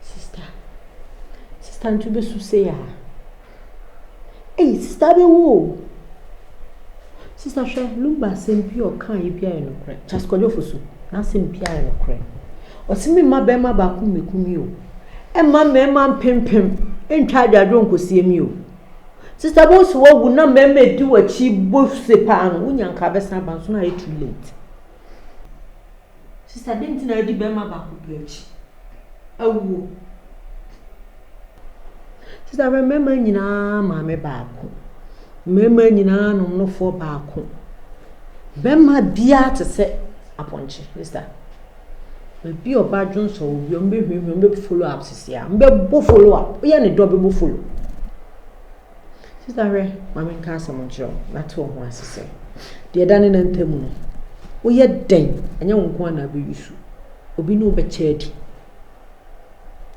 Sista, sista nti wobɛsu sei a? Ei, sista bɛwu o. Sista hwɛ, Lumba asɛm bi a ɔkaeɛ bi a yɛ nokorɛ. Charles Kwadwofo so, n'asɛm bi a yɛ nokorɛ. Ɔse me mma bɛrima baako mmɛku me o. Ɛmma mmarima mpempem ntwa adwadwo nkɔsie me o. Sister bɔ so wawu na mmarima edi w'akyi bɔ se paa no wonya nka abɛsan aba nso na ayɛ too late. Sister dɛn nti na adi bɛrima baako pɛ akyi? Awuo. Sister bɛ mmarima nyinaa maame baako. Mmarima nyinaa nom nofoɔ baako. Bɛrima biara te sɛ apɔnkye sister. Obi a ɔba dwonsɔ obi a, wɔbɛhwehwɛ, wɔbɛbɔ follow up sisi a, wɔbɛbɔ follow up, woyɛ ne dɛ a wɔbɛbɔ follow. Sista hwɛ, ma menka asɛm nkyerɛ wo na te wo ho ase sɛ, deɛ ɛda ne nan ntam no, woyɛ dɛn, ɛnyɛ wo nko ara na abɛyi su, obi ne wo bɛkyɛ adi.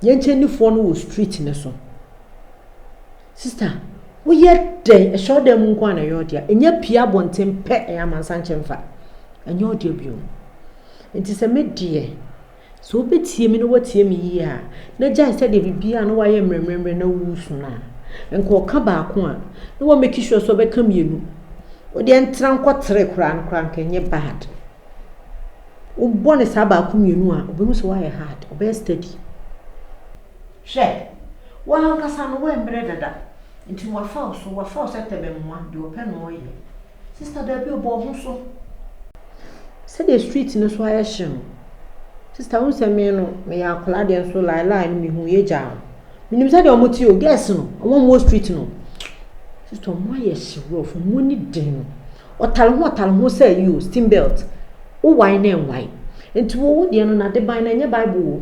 Yɛnkyɛnnifoɔ no wɔ street no so. Sista, woyɛ dɛn? Ɛsɔre dan mu nko a na ɛyɛ wo dea. Nya pue abɔnten pɛ, ɛyɛ amansan kyɛ mfa. Ɛnyɛ wo dea bio. Nti sɛ me deɛ, sɛ wobɛtie me na woatie me yie a, na gyae sɛdeɛ biribiara na woayɛ mmerɛmmerɛmmerɛ na woresu no a, nka ɔka baako a, na woamake sure sɛ wobɛka mmienu. Wodeɛ ntra nkɔ tere koraa no koraa nka ɛnyɛ bad. Wobɔ no saa baako mmienu a, wobɛhu sɛ woayɛ hard, ɔbɛyɛ steady. Hwɛ! Wo ankasa no woammerɛ dada, nti wɔafa wo so, wɔafa wo sɛ tɛbɛmmoa, deɛ ɔpɛ na ɔyɛ. Sister daabi o, bɔ wo ho so. Sɛdeɛ street no so ayɛ hye no, sister wohu sɛ me no, meyɛ akwadaa deɛ nso lie lie no mehu yɛ gyaa no. Menim sɛdeɛ wɔn te o, girls no, wɔn wɔ street no, sister wɔn ayɛ hye rough, wɔn ani den no. Ɔtare ho ɔtare ho sɛ yi o, steam belt, wowae na ɛnwae. Nti wo, wo deɛ no, n'adeban no, ɛnyɛ Bible o.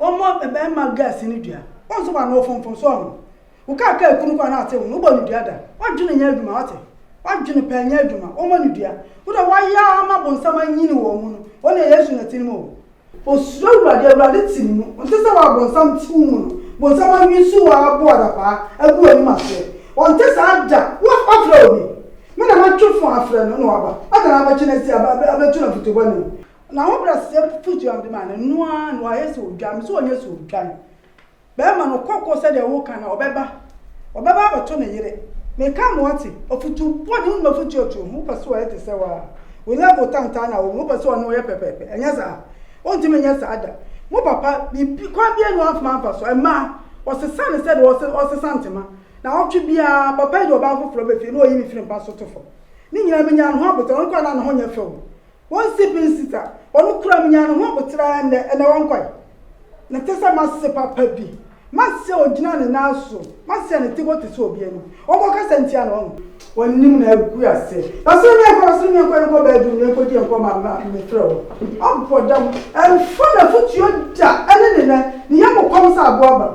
Wɔmmɔ bɛmma girls no dua. Wonso w'ano wo fonfon so ɔno. Wo kaa kaa kunu kɔ a na ɔte ho no wobɔ no dua da. W'adwene nyɛ adwuma wate. W'adwene pɛɛ nyɛ adwuma. Wɔmmɔ no dua. Wo deɛ w'ayɛ ara ma bonsam anyini wɔn mu no. Wɔn deɛ Yesu na ɛte ne mu o. Osuro Awurade, Awurade te ne mu. Ɔnte sɛ wo a bonsam te wo mu no. Bonsam anwin so wo ara bo adapaa agu w'anim aseɛ. Ɔnte saa da. Wo afrɛ obi. Me na mɛtwe fo afrɛ no na waba. Adɛn na wabɛkye no asi abɛto no afotubɔne mu. N'ahobrɛaseɛ pupu dwam de ma no, ɛno ara na wayɛ sɛ odwan, me sɛ ɔnyɛ sɛ odwan. Bɛrima no, kɔkɔ sɛdeɛ woka no, ɔbɛba, ɔbɛba abɛto ne yere. Meka ma wate, afutuo bɔne, wonim afutuo atuo ho, wopɛ sɛ ɔyɛ te sɛ wo a, wo level tantan na wɔ mu, wopɛ sɛ ɔne wo yɛ pɛpɛɛpɛ, ɛnyɛ saa? Wontumi nyɛ saa da. Mo papa, biribi, kwan biara nni hɔ a wamfa amfa so. Mmaa, wɔsesa no sɛdeɛ wɔse, wɔsesa ntoma. Naawɔtwe biara, papa yi de ɔbaa foforɔ ba fie na ɔyi me firi mpa so to fam. Ne nyinaa, menyaa ne ho aboterɛ, ɔno koraa na ne ho nyɛ fɛ o. Wɔn si bin sita. Wɔn kura me nya ne ho aboterɛ ara nnɛ, ɛnɛ wɔn kɔe. Ne te sɛ mase papa bi. Mase a ɔgyina ne nan so, mase a ne ti bɔ te sɛ obi ani. Wɔn kɔ kasa ntia ne ɔno. Wɔn nim na agu ase. Na soro ne nkɔ, na soro ne nkɔ, yɛn kɔ bɛɛdum, yɛn kɔ di yɛn kɔ ma ma me frɛ wo. Abɔ dam, ɛnfa na futuo da ɛne ne nɛ, ne yɛ mo kɔm sɛ aboa ba.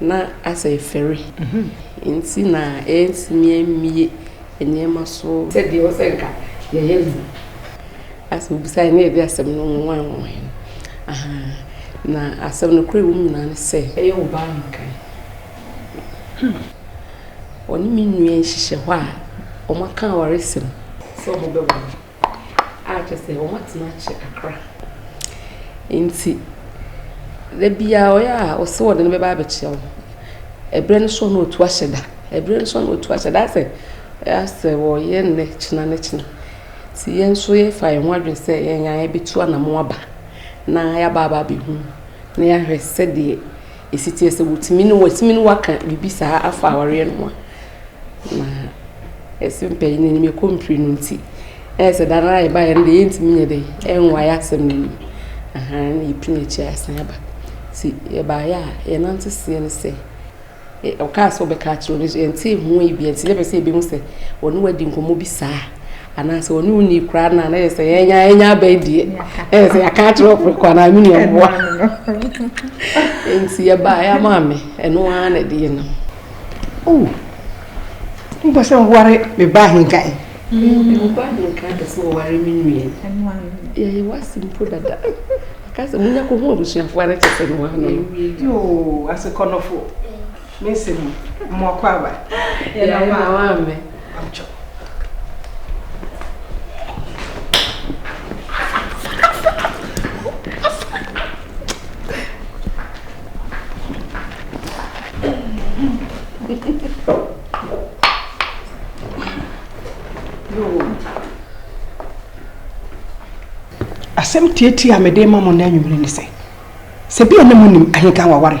na asɛ fɛre nti na ɛntumi ammie nneɛma so sɛdeɛ ɛwɔ sɛ nka yɛyɛ no. Asɛ obisae na yɛde asɛm no nwanwa nwanwa no. Aha. Na asɛm no kora ɛwom nyinaa ne sɛ. Ɛyɛ wo baa nkan. Hmm. Ɔne me nua nhyehyɛ hɔ a wɔaka awaresɛm sɛ wɔbɛware. a kyerɛ sɛ wɔatena akyɛ kakra. Enti da biara ɔyɛ a ɔse ɔde no bɛba abɛkyɛ wo. Ɛberɛ no so na ɔtu ahyɛ da, ɛberɛ no so na ɔtu ahyɛ da. Asɛ asɛ wɔyɛ nnɛ kyena ne kyena. Nti yɛn nso yɛfa yɛn ho adwene sɛ yɛn ara yɛbɛtu anamɔn aba na yɛaba aba abɛhu na yɛahwɛ sɛdeɛ ɛsi teɛ, sɛ wɔtumi ne wo, wɔatumi ne wo aka biribi saa afa awareɛ no ho a. Na ɛse mpanyin no anim ɛkɔ mpire no nti ɛyɛ sɛ da no ara yɛbaeɛ no deɛ yɛntumi nyɛ dɛ ɛnwae asɛm no anim aha na yɛpini akyire asan aba nti yɛbaeɛ a yɛnante seɛ no sɛ ɔkaa sɛ ɔbɛka akyerɛ no so yɛnte ho yi bia nti na ɛpɛ sɛ yɛbɛhu sɛ ɔne wadi nkɔmmɔ bi saa anaasɛ ɔne wo nii koraa no a na yɛ sɛ yɛnya yɛnya abɛn deɛ ɛyɛ sɛ yɛaka akyerɛ ɔforo kɔ anaa me nuaboa nti yɛbaeɛ ama me ɛno ara na ɛde yɛ nam Oh, wopɛ sɛ woware me ba ahenka ɛ? Meba ahenka pɛ sɛ wɔware me nnuɛ. Yɛyɛ wase mpo dada. Aka sɛ munya kɔ ho abusuafoɔ ara kyɛ sɛ ne waa no. Yoo, asekɔnɔfo. Me nsɛm mu, mmoakɔ aba. Yɛna waa mɛ. asɛm tiatia a mede ma mo na anwummere ne sɛ sɛ bia na monim ahenka waware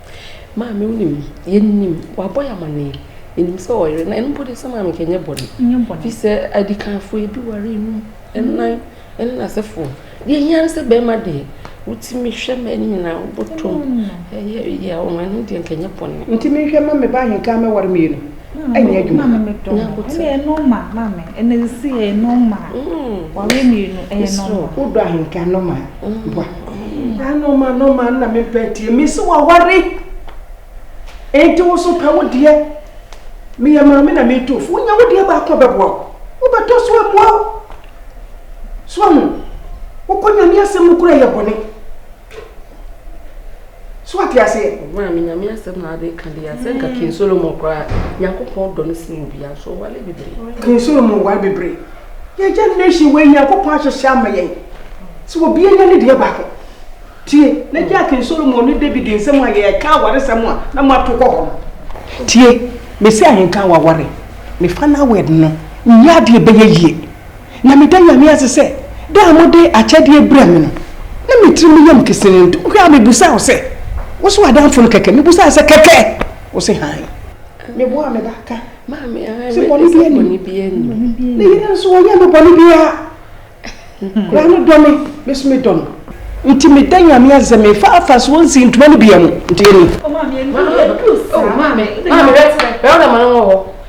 Maame wonim yɛnim wabɔ yɛ amanneɛ yɛnim sɛ ɔyere na ɛno mpo deɛ sɛ maame kɛ nyɛ bɔne fi sɛ adikanfoɔ ebi ware enum ɛnan ɛne n'asefoɔ deɛ hia no sɛ bɛrima deɛ wotumi hwɛ ma ɛne nyinaa wobɔtɔm ɛyɛ yɛ ɔma ɛno deɛ nkɛ nyɛ bɔne nti mehwɛ ma me ba ahenka mɛware mmienu ɛnyɛ adwuma. na abotire ɛyɛ nɔɔma maame ɛna sisi ɛyɛ nɔɔma wɔre mmienu ɛyɛ nɔɔma. wodɔ ahenka nɔɔma bua saa nɔɔma nɔɔma na me mpɛ tie me si wɔ wɔre enti woso pɛ wo deɛ meyɛ maame na me to fo wonya wo deɛ baako bɛboa wo wobɛtɔ so amoa wo so ahu wokɔ nyame asɛm no kura yɛ bɔne. so ate aseɛ ɔmaa me nyame asɛm na ade ka deɛ asɛ nka king solomon koraa nyankopɔn dɔ no sene obia nso ɔwale bebree king solomon wale bebree yɛ generation wei nyankopɔn ahyehyɛ ama yɛn sɛ obia nya ne deɛ baako tie na gye a king solomon ne david nsɛm a yɛka awaresɛm a na moato kɔ hɔ no tie mesi ahenka waware mefa no awɛd no nyɛ adeɛ bɛyɛ yie Na meda Nyame ase sɛ da a mode akyɛdeɛ brɛɛ me no, na me tirim yɛ me kesee, nti wohwɛ a mebusaa wo sɛ, Wo so w'adamfo no kɛkɛ? Mebusaa sɛ, Kɛkɛ? Wo se, Hann. Meboaa me ba ka sɛ bɔne biara nni mu. Ne yere nso, ɔnyɛɛ me bɔne biara. Akwadaa no dɔ me, me nso medɔ no. Nti meda Nyame ase sɛ mefa afasoɔ nsii ntoma no biara mu, nti yɛni. Maame, oh, maame, maame, bɛrima no wɔ hɔ.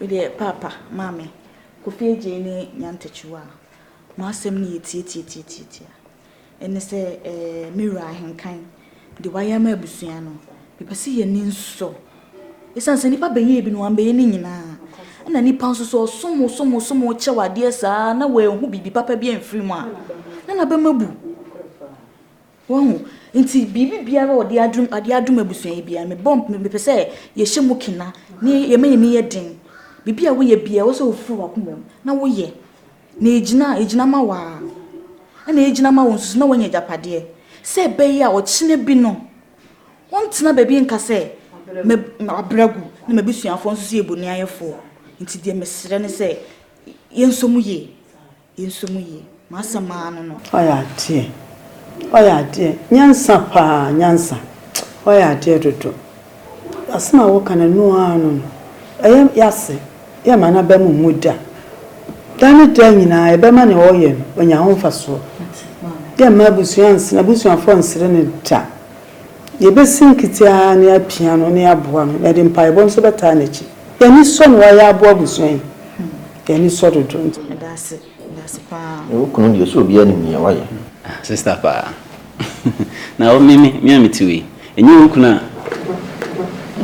Medeɛ paapa, maame, Kofi Adjei ne Nyan Takyiwa a mo asɛm no yɛ tiatiatiatiatia. Ɛne sɛ eh, me wura Ahenkan, deɛ wayɛ ama abusua no, mepɛ sɛ yɛn ani nsɔ. Ɛsiane sɛ nnipa bɛyɛɛ bi no, wɔammɛyɛ ne nyinaa. Ɛna nnipa nso sɛ ɔsom wo, som wo, som wo, kyɛ wo adeɛ saa na wɔanhu biribi papa bi amfiri mu a, na n'abam abu. Wahu? Nti biribi biara a ɔde adom, ade adom abusua yi biara, mebɔ, mepɛ sɛ yɛhyɛ mu kena, ne yɛma yɛn ani yɛ den. Biribi a woyɛ biara, ɛwɔ sɛ wofiri w'akoma mu, na woyɛ, na egyina, egyina ma wo ara, ɛna egyina ma wo nso so, na woanya agyapadeɛ, sɛ ɛbɛyɛ a ɔkyena bi no, wɔntena baabi nka sɛ, mɛ, mabrɛ agu, na m'abusuafoɔ nso so yɛ boniayɛfoɔ. Nti deɛ mesrɛ ne sɛ, yɛnsɔ mu yie. Nso mu ye. M'asɛm ara no no. Ɔyɛ adeɛ, ɔyɛ adeɛ, nyansa paa, nyansa, ɔyɛ adeɛ dodo. Asem a woka no ɛno ara no no, ɛyɛ yase, yɛ ma n'aba mu mmu da. Da ne da nyinaa yɛbɛma nea ɔyɛ no ɔnya ho mfasoɔ. Yɛ mma abusua nsere, abusuafoɔ nsere no da. Yɛbɛsi nkete ara na yɛapia no na yɛaboa no. Yɛde mpaebɔ nso bɛtaa n'akyi. Yɛn ani sɔ na wayɛ aboa abusua yi. Yɛn ani sɔ dodo. Meda ase. Meda ase paa. Wo kunu deɛ sɛ obiara nim nea wayɛ. Ah sister paa na wo me me a mete wei ɛnyɛ wo kunu a.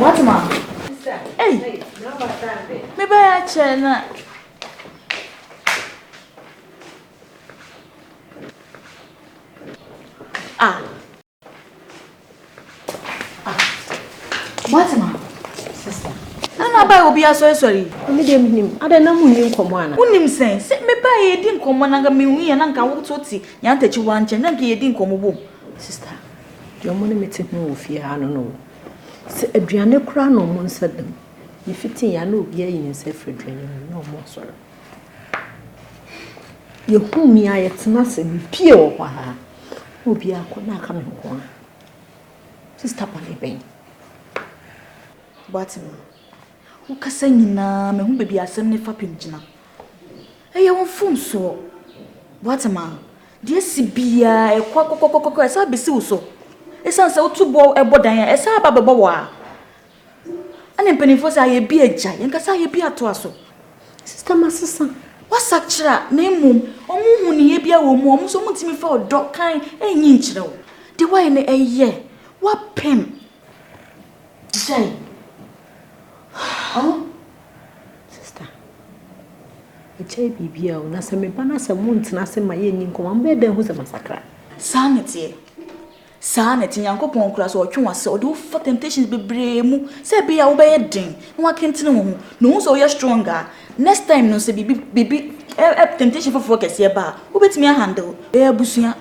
What ma ei me bɛyɛ akyɛ na. Ah. Moatema, sista. Na na abae obi asɔresɔre yi. Ɔne deɛ menim. Adɛ na mu nni nkɔmmɔ ana? Wonim sɛn? Sɛ mebae yɛdi nkɔmmɔ na nka mehu yɛ na nka woto te yɛn atakyiwa nkyɛn na nka yɛdi nkɔmmɔ bom. Sista, deɛ ɔmo ne me te ho wɔ fie ha no no o. Sɛ aduane koraa na ɔmo nsa dam. Yɛfiti yɛ a na obiara ayi ne nsa afiri aduane no mu na ɔmo asɔre. Yɛhu me a, yɛtena ase. Mepue wɔ hɔ ara. Obiara kɔ na aka me nko ara. Sista bɔne bɛn? Woate me? Wokasa nyinaa, mehu baabi asɛm ne fapem gyina. Ɛyɛ wo mfomsoɔ. Woate ma? Deɛ si biara ɛkɔ kɔkɔkɔkɔ ɛsɛ abɛsi wo so. Ɛsiane sɛ wotu bɔ ɛbɔ dan a, ɛsɛ aba bɛbɔ wɔ a. Ɛna mpanimfoɔ sɛ ayɛ bi agya, yɛn kasa ayɛ bi atoa so. Sista ma sesa. Wasakyera na mmom wɔn hu ne yɛ bi a wɔn mu wɔn nso wɔn ntumi fa ɔdɔ kan ɛnyi nkyerɛ wo. De wayɛ no ɛyɛ wapɛm. Gyae. Huh? Sista. Agyae biribi a o na sɛ me ba na sɛ mo ntena ase ma yɛ nni nkɔmɔ a mo bɛyɛ dɛn ho sɛ masakra. Saa na ɛteɛ. Saa na ɛte, Nyankopɔn koraa sɛ ɔtwe w'ase, ɔde wo fa temptations bebree mu sɛ ebia wo bɛyɛ den na wakentene wo ho, na ohu sɛ woyɛ strong a, next time no sɛ biribi biribi ɛ ɛ temptation foforɔ kɛseɛ ba a, wobɛtumi a handle. Yɛyɛ abusua,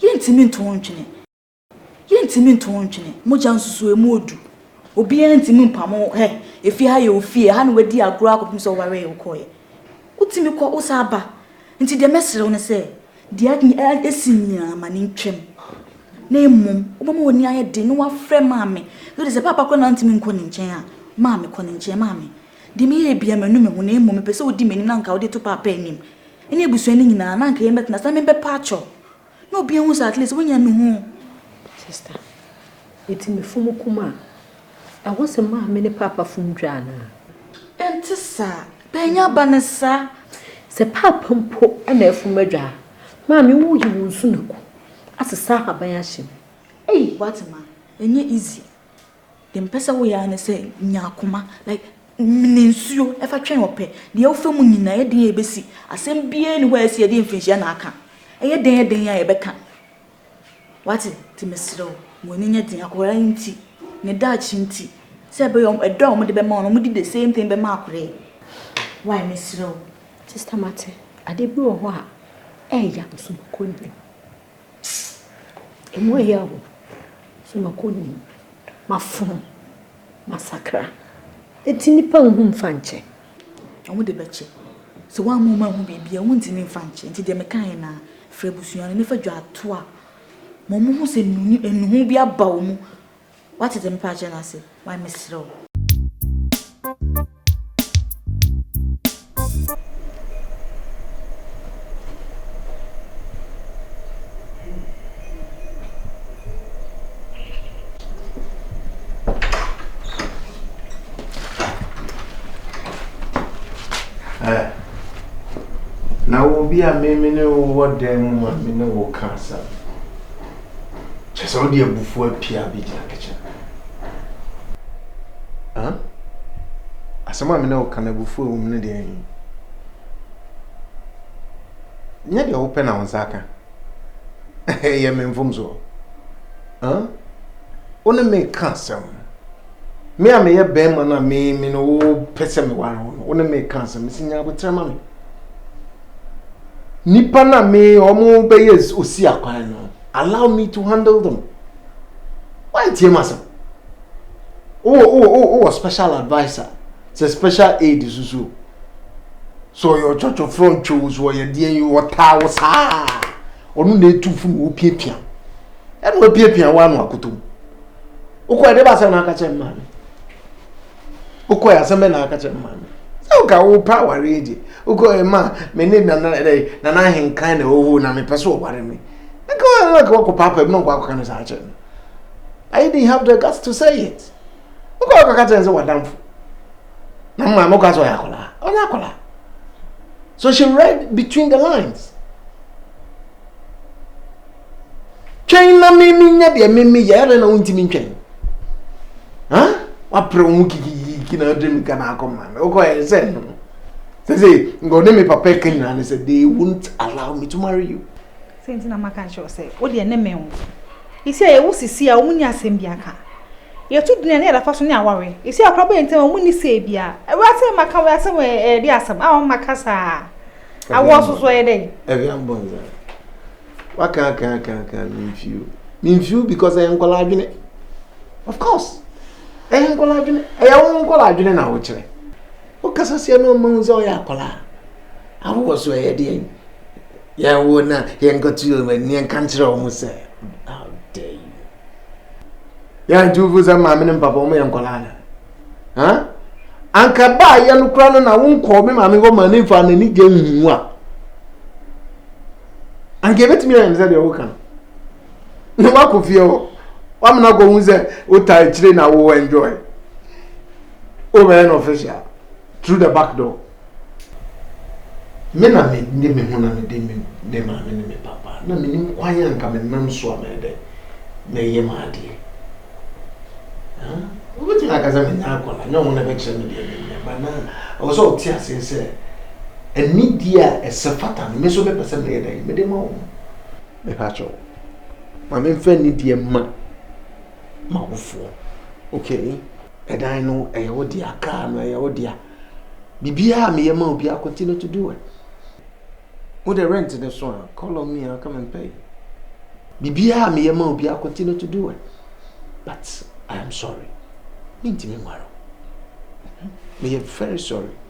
yɛntumi nto wo ntwene, yɛntumi nto wo ntwene. Mogya nsusuamu odu, obiara ntumi mpamo wo, hɛ, efie ha yɛ wo fie, ɛha na w'adi agorɔ akɔpem sɛ wowaree wokɔeɛ. Wotumi kɔ, wosan ba, nti deɛ mɛsrɛ wo ne sɛ, Deɛ ɛsi nie ara ma no ntwam, na mmom wobɛma w'ani ayɛ den na woafrɛ maame. Ɛfiri sɛ paapa koraa na wontumi nkɔ ne nkyɛn a, maame, kɔ ne nkyɛn. Maame, deɛ meyɛeɛ biara manu me ho, na mmom mepɛ sɛ wodi m'anim na anka wode to paapa anim ne abusua no nyinaa, na anka yɛbɛtena ase na mebɛpa akyɛ wo na obiara ahu sɛ at least woanya nuhu. Sister, ɛti mefom koma a. Ɛwɔ sɛ maame ne paapa fom dwa anaa? Ɛnte saa. Panyin aba ne saa. Sɛ paapa mpo na afom adwa a, maame woyi wo nsunaku asesa ahaban ahyɛ mu. Ei! Wate ma ɛnyɛ easy. Deɛ mepɛ sɛ woyɛ ara ne sɛ nya akoma like mene nsuo fa twɛn ɔpɛ. Deɛ wofa mu nyinaa ɛyɛ den a ɛbɛsi. Asɛm biara nni hɔ a ɛsi a ɛde mfirinhyia na aka. Ɛyɛ dɛn dɛn a ɛbɛka. Wate? Nti mesrɛ wo, ma w'ani nyɛ den. Akwadaa yi nti, ne daakye nti, sɛ ɛbɛyɛ wɔn, ɛdɔ a wɔde bɛma wo no, wɔde the same thing bɛma akwadaa yi. Why? Mesrɛ wo. Sista Mate, adeɛ bi wɔ hɔ a, ɛɛya no so makɔ nnim. Ɛmu ɛya o, so makɔ nnim. Mafono, masakra. Nti nipa nhu mfa nkyɛ. Wɔde bɛkyɛ. Sɛ woamma wɔanhu biribi a, wontumi mfa nkyɛ. Enti deɛ mekaeɛ no ara, frɛ abusua no na fa dwaatoa ma wɔhu sɛ nnuho bi aba wɔn mu. Woate deɛ mepa akyerɛ no ase? Wai, mesrɛ wo. Ɛ. Na wɔ obi a me me ne wo wɔ dan mu ma me ne wo ka asɛm. Kyerɛ sɛ wode abufuo apia bi gyina kitchen. Huh? Asɛm a me ne wo ka no abufuo a ɛwɔ mu no deɛ ɛn. Nyɛ deɛ wopɛ na wo nsa aka. Ɛyɛ me mfomsoɔ? Huh? Wo ne me ka asɛm. Me a meyɛ bɛrima no a me me no wopɛ sɛ meware wo no, wo ne me ka asɛm. Mesi nya aboterɛ ma me. Nipa na me ɔmo bɛyɛ osi akwan no, allow me to handle them. Wantie m'asɛm. Wowɔ wowɔ wowɔ special adviser. Sɛ special aid so so sɛ ɔyɛ ɔkyɔkyɔ frɛ ɔntwe wo so ɔyɛ deɛ yi ɔtaa wo saa ɔno na etu funu wo piapia ɛna wapiapia wo ano akoto mu wokɔ ɛde basɛm na aka kyerɛ mmaa no wokɔ yɛ asɛm bɛ na aka kyerɛ mmaa no sɛ woka wo pa awareɛ gye wokɔ yɛ ma me ne nana ɛdɛ nana ahenkan na ɔwɔ na mepɛ so ɔware me nka wɔn na kɔ kɔ paapa mu na ɔkɔ akɔka no saa kyerɛ no I didn't have the guts to say it. wokɔ wokɔ ka kyerɛ sɛ wadamfo na mo maame kɔ sɛ ɔyɛ akwadaa ɔnyɛ akwadaa so she read between the lines twɛn na mimi nyɛ deɛ mimi yɛ ɛdɛ na wontumi ntwɛn ha wapere wo ho kikikiki na ɔde mika na akɔ maame wokɔ yɛ sɛ sɛ sɛ nka ɔne me papa ka nyinaa ne sɛ they won't allow me to marry you Sɛ nti na maka nkyerɛ wo sɛ, wo deɛ ne mmɛn wo. Esi a yɛwo sisi a, wɔn nni asɛm bi aka. Yɛtu dene ne yɛda fa so ne aware. Esi a ɔkra bɔ yɛn ntam a, wɔn nni sɛɛ bi a. Awura sɛ maka wɔ asɛm wɔ ɛde asɛm a wɔn maka saa. Awoɔ so so ɛyɛ dɛ. Ɛhwɛ abɔ nsa. Waka aka aka aka mimfio. Mimfio because ɛyɛ nkɔla adwene. Of course. Ɛyɛ nkɔla adwene. Ɛyɛ wɔn nkɔla adwene na wɔkyerɛ. Wokasa sɛ ɛna ɔma hu sɛ ɔyɛ akɔla a. Awowɔ so ɛyɛ deɛn? Yɛwo na yɛnkɔto wɔn ani nka nkyerɛ wɔn sɛ how dare you. Yɛn tuufu sɛ maame ne mpapa wɔn yɛ nkɔlaa na. Huh? Anka baa yɛ no kora no na wo nkɔɔ me maame hɔ ma ne nfa n'ani gye nhu a. Anka ebetumi ayɛ no sɛ deɛ ɔwɔ ka no. Na wakɔ fie hɔ. Wamena akɔ hu sɛ wota akyire na wo enjoy. Wobɛyɛ no official. Through the back door. Me na me de me ho na me de me me maame ne me papa na me nim kwan a nka me nam so a mɛdɛ mɛyɛ mu adeɛ. Wobɛtumi aka sɛ menya akɔla nyɛ ɔmo na ɛbɛkyerɛ me deɛ menyɛ ba na ɔwɔ sɛ ɔte aseɛ sɛ anidie a ɛsɛ fata no me nso mepɛ sɛ meyɛ dɛn mede ma wɔn. Mepa kyɛw ma memfa anidie ma m'awofoɔ okay. Ɛdan no ɛyɛ wo dea, kaa no ɛyɛ wo dea, biribiara a meyɛ ma wo biara continue to do it. Wode rent no so a, call on me, I'll come and pay. Biribiara a meyɛ ma wo biara continue to do it. But I am sorry, mentumi nware wo. Meyɛ very sorry.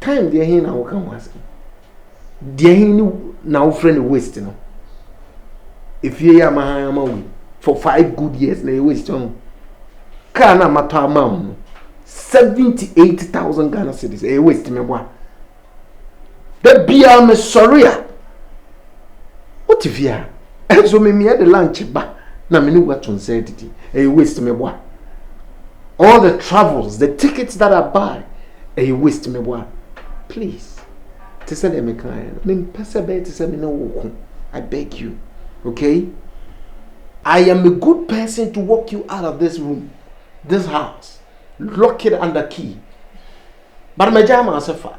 Time deɛ he na woka ho asɛm. Deɛ he ne na wofrɛ no waste no. Efie yi ama ha ama wei. For five good years na yɛ waste ho. Kaa na matɔ ama wo no. Seventy eight thousand Ghana cedis. Ɛyɛ waste me boa. Da biara me sɔre a. Wote fie a. Ɛnso me meyɛ de lunch ba na me ne wo ato nsa adidi ɛyɛ waste me boa all the travels the tickets that I buy ɛyɛ waste me boa please te sɛ deɛ meka ayɛ no mempɛ sɛ bɛyɛ te sɛ me ne wo ko I beg you okay I am a good person to walk you out of this room this house lock it under key but magya ama ase fa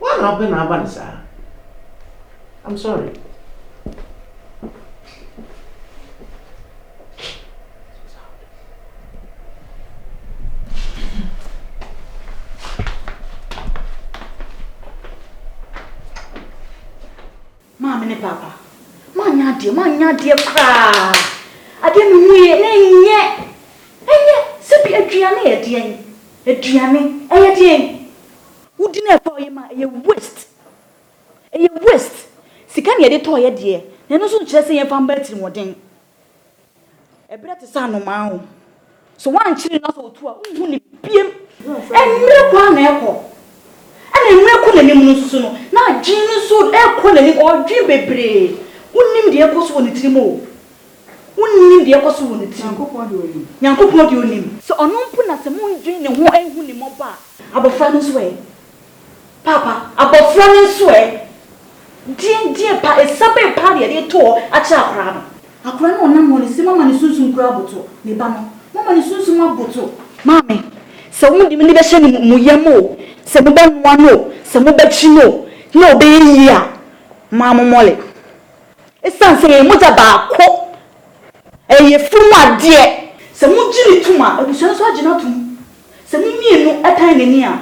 Woa na wopɛ na aba no saa? I'm sorry. Maame ne Paapa, moanyɛ adeɛ, moanyɛ adeɛ koraa. Adeɛ mehuiɛ na ɛnyɛ, ɛnyɛ sɛ bi aduane yɛ deɛn? Aduane ɛyɛ deɛn? Wodi na ɛtɔeɛ ma ɛyɛ waste, ɛyɛ waste. Sika na yɛde tɔeɛ deɛ, na ɛno nso nkyerɛ sɛ yɛmfa mmɔ atirimuɔden. Ɛberɛ te sɛ anomaa o. Sɛ woankyere no na sɛ ɔtu a, wonhu no biem. Mmerɛ kɔ ara na ɛkɔ. Ɛna mmerɛ rekɔ n'anim no nso so no, n'adwene no nso rekɔ n'anim. Ɔredwene bebree. Wonnim deɛ ɛrekɔ so wɔ ne tirim o. Wonnim deɛ ɛrekɔ so wɔ ne tirim. Nyankopɔn deɛ ɔnim. Nyankopɔn deɛ ɔnim. Sɛ ɔno mpo na sɛ monnwene ne ho nhu ne mmɔbɔ a. Abɔfra no nso ɛ? Paapa, abɔfra no nso ɛ? Deɛn deɛn pa, ɛsa bɛn paa na yɛde reto hɔ akyerɛ akwadaa no? Akwadaa no a ɔnam hɔ no, se moama ne sunsum koraa aboto. Me ba no, moama ne sunsum aboto. Maame, sɛ mode mo ani bɛhyɛ ne mu, mo yam o, sɛ mobɛnoa no o, sɛ mobɛkye no o, na ɔbɛyɛ yie a, momma mo mmɔle. Ɛsiane sɛ yɛyɛ mogya baako, ɛyɛ funu mu adeɛ. Sɛ mogye no tom a, abusua no nso agye no atom. Sɛ mo mmienu tan n'ani a,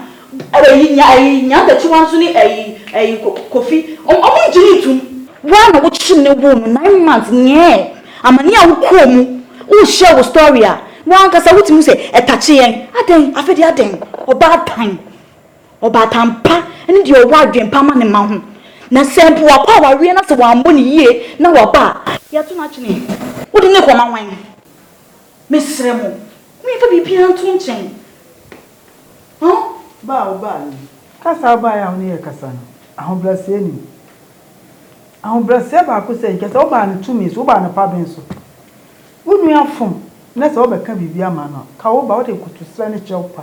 ayi nya ayi nya Bakyiwa nso ne ayi ayi ko Kofi, wɔn wɔn ngye no ntum. Wo a na wo kyem ne woo no nine months nyɛɛ amane a wo kɔɔ mu wo share wo story a wo ankasa wo tumi sɛ ɛtakye yɛn adɛn afei deɛ adɛn ɔbaatan ɔbaatan pa ne deɛ ɔwɔ adwen pa ma ne mma ho na sɛ mpo wakɔ awareɛ na sɛ wammɔ no yie na waba a yɛto no akyene wo de no rekɔ ma wan? Mesrɛ mo, momfa biribiara nto nkyɛn. Hon. Ba a wobae yi, kasa a wobae a wo ne yɛ rekasa no, ahobrɛaseɛ nnim. Ahobrɛaseɛ baako sɛ, nka sɛ wobaa no tumi so, wobaa no paben so. Wo nua fom na sɛ wobɛka biribi ama no a, ka wo ba, wode nkotoserɛ ne kyɛw pa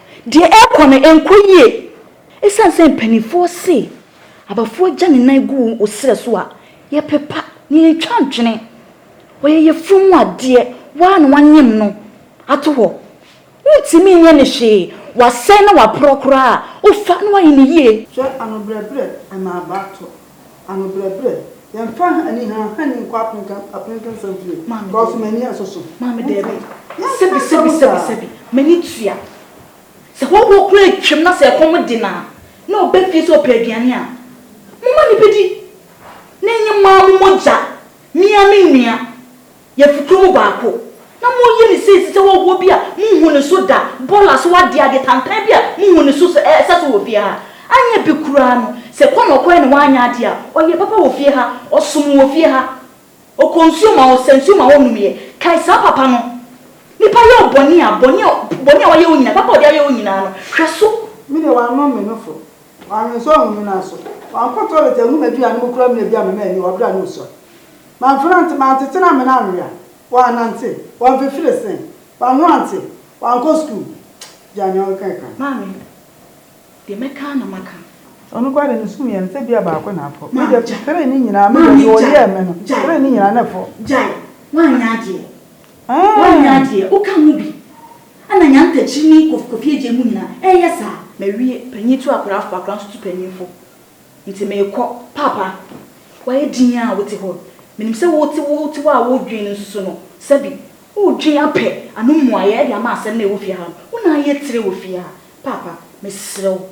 Deɛ ɛrekɔ no ɛnkɔ yie. Ɛsiane sɛ mpanimfoɔ se abafoɔ gya ne nan gu wo serɛ so a, yɛpepa na yɛntwa ntwene. Ɔyɛ yafunu mu adeɛ, wo ara na woanyem no ato hɔ. Wontumi nyɛ no hwee, wasɛe na waporɔ koraa a, wofa na woayɛ no yie. Hwɛ anobrɛbrɛ ɛma aba atɔ. Anobrɛbrɛ, yɛmfa ani hanhani nkɔ apenken apenken fam fie, kɔ so m'ani asoso. Maame, daabi, sɛbi, sɛbi, sɛbi, sɛbi, m'ani tua. Sɛ hɔhoɔ koraa atwam na sɛ ɛkɔm de no a, na ɔba fie sɛ ɔpɛ aduane a, momma no bɛdi, na ɛnyɛ mo ara mo mogya, me ara me nua. Yɛfi kuro mu baako. Na moyi ne sɛ ɛsi sɛ wɔwɔ bi a monhu ne so da, bɔla so adeɛ, adeɛ tantan bi a monhu ne so sɛ ɛsɛ so wɔ fie ha. Anyɛ bi koraa no, sɛ ɛkɔ na ɔkɔɛ na wanyɛ adeɛ a, ɔyɛ papa wɔ fie ha, ɔsom wɔ fie ha. Ɔkɔ nsuo ma ɔsa nsuo ma ɔnomyɛ. Kae saa papa no. Nipa yɛ wo bɔne a, bɔne a, bɔne a wayɛ wo nyinaa, papa a ɔde ayɛ wo nyinaa no, hwɛ so. Me deɛ wanom me nofo, Ɔanwensɔn nnhu me naaso ɔannkɔ tɔlɛt ennhu m'eduan no mu koraa mbrɛ bi a mema enyi wɔ ber a no rusuar. Mannfrantse, manntsetse na amena annwea, ɔannantse, ɔammfifir se, ɔannhoantse, ɔannkɔ skuul. Gyaa nyia ɔrekã yi kã. Maame, Deɛ mɛka ara na maka. Sɛ ɔno koraa de no sum yɛ no sɛ bia baako na afɔ. Me deɛ, three no nyinaa, me deɛ deɛ ɔyɛɛ me no, three no nyinaa na ɛfɔ. Gyae, woanyɛ adeɛ. Woannya adeɛ, woka mu bi. Ana nya ntakyiri ne kof kofi agye mu nyina ɛɛyɛ saa. Mawie, panyin tu akwadaa fo, akwadaa nso tu panyin fo. Nti meekɔ. Paapa, woayɛ dinn ara a wote hɔ. Menim sɛ wote wo te hɔ a woredwen no nso so no, sɛbi, woredwen apɛ ano mmuaeɛ de ama asɛm no a ɛwɔ fie ha no. Wo na ayɛ tire wɔ fie ha. Paapa, mesrɛ wo.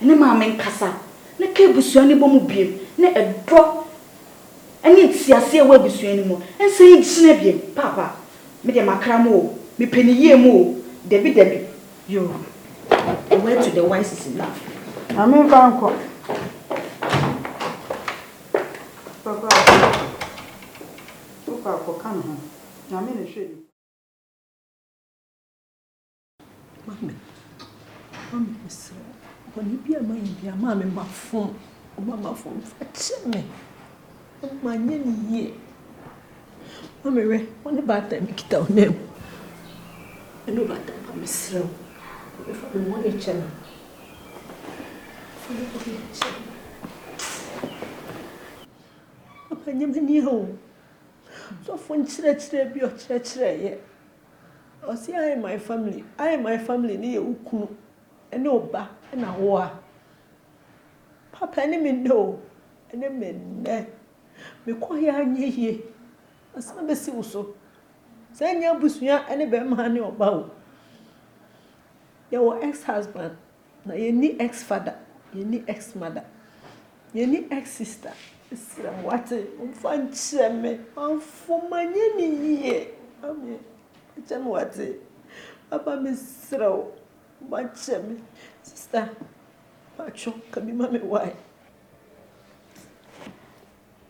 ne maame nkasa, na ka abusua no bɔ mu biom, na ɛdɔ ne nteaseɛ ɛwɔ abusua no mu nsan nkyina biom. Paapa, me deɛ makra mo o, mepɛ ne yie mo o, dabi dabi, yoo, the word to the wise is enough. Maame mfa nkɔ. Papa, wokɔ a kɔka ne ho, Nyame na ɛhwɛ nipa. Maame, maame mesrɛ wo, bɔne bi a mayɛ biara, maame mafom, maame mafom, fa kyɛ me, manyɛ no yie. Maame wɛ, wo ne baatan bi kita wo nan mu. Ɛne wo baatan ba mesrɛ wo, maame fa me bɔne kyɛ me. Fa me bɔne kyɛ me. Papa nyɛ m'ani o. Sɔfo nkyerɛkyerɛ bi ɔkyerɛkyerɛeɛ. Ɔse I and my family, I and my family ne yɛ wo kunu ne wo ba na wo a. Papa ɛne me nnɛ o, ɛne me nnɛ. Mekɔ he anyɛ yie, masan bɛsi wo so. Sɛ ɛnyɛ abusua ne bɛrima ne ɔba o. Yɛwɔ ex husband, Na yɛnni ex father, yɛnni ex mother, yɛnni ex sister. Mesrɛ mo, wate, momfa nkyerɛ me. Mamfo manyɛ ne yie. Ame, kyɛ me wate. Papa mesrɛ wo, ma kyɛ me. Sister, patwɔ, ka bi ma me why.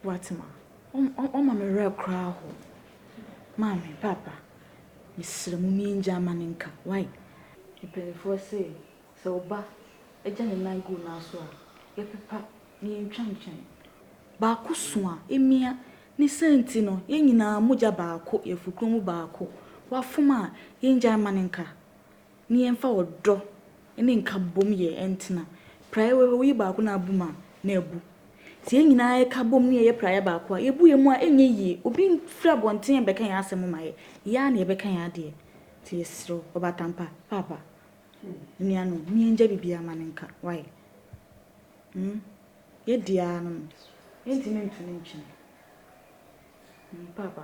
W'atema, w'ama me werɛ koraa ho. Maame, Papa, mesrɛ mo mii ngya mma no nka, wai. Mpaninfoɔ se, sɛ wo ba gya ne nan gu wo nan so a, yɛ pepa na yɛ ntwa ntwɛn. Baako so a, emia, ne saa nti no, yɛ nyinaa mogya baako, yɛ fukuro mu baako, w'afom a, yɛ ngyae mma no nka. Ne yɛmfa ɔdɔ ne nkabom yɛ ntena. Praeɛ wɔ hɔ, woyi baako na abom a, na abu. Sɛ yɛn nyinaa ka bom na yɛyɛ praeɛ baako a, yɛbu yɛn mu a, ɛnyɛ yie. Obi mfiri abɔnten mmɛka yɛn asɛm mma yɛn. Yɛn ara na yɛbɛka yɛn adeɛ. Nti yɛsrɛ wo, Ɔbatampa, Paapa, anuanom, momma yɛngya biribiara mma no nka. Why? Hmm? Yɛadi ara no no, yɛntumi nto no ntwene. Hmm, Paapa.